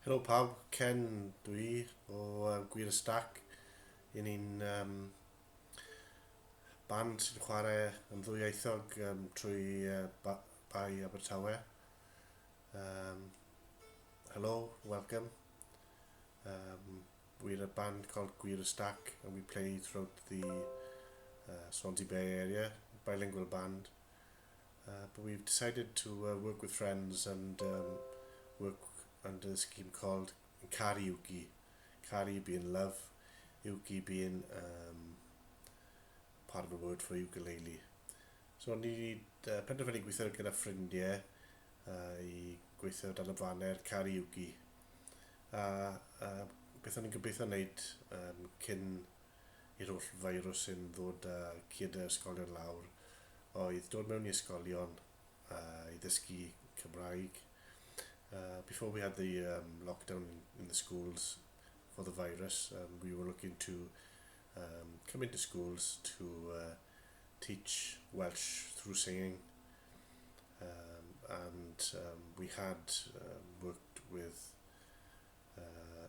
Helo pawb, Ken dwi o uh, Gwir y Stac. Yn ni'n um, band sy'n chwarae yn ddwyieithog um, trwy uh, ba Bai Abertawe. Um, hello, welcome. Um, we're a band called Gwir y Stac and we play throughout the uh, Swansea Bay area, bilingual band. Uh, but we've decided to uh, work with friends and um, work under a scheme called Kari Uki. Kari being love, Uki being um, part of a word for ukulele. So ni wedi uh, penderfynu gweithio gyda ffrindiau uh, i gweithio dan y faner Kari Uki. A uh, beth o'n i'n gobeithio wneud um, cyn i'r holl feirws sy'n ddod â ciadau yr ysgolion lawr oedd dod mewn i ysgolion i ddysgu Cymraeg. Before we had the um, lockdown in, in the schools for the virus, um, we were looking to um, come into schools to uh, teach Welsh through singing. Um, and um, we had um, worked with uh,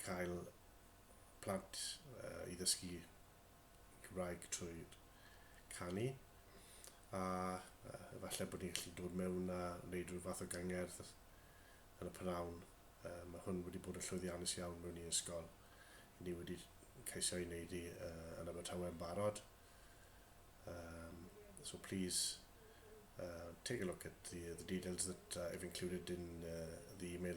cael plant i ddysgu Cymraeg trwy canu a efallai bod ni'n gallu dod mewn a wneud rhyw fath o gangerdd yn y p'nawn. Mae hwn wedi bod yn llwyddiannus iawn mewn i ysgol. I ni wedi ceisio ei wneud i yn Abertawe yn barod. Um, so please uh, take a look at the, the details that uh, I've included in uh, the email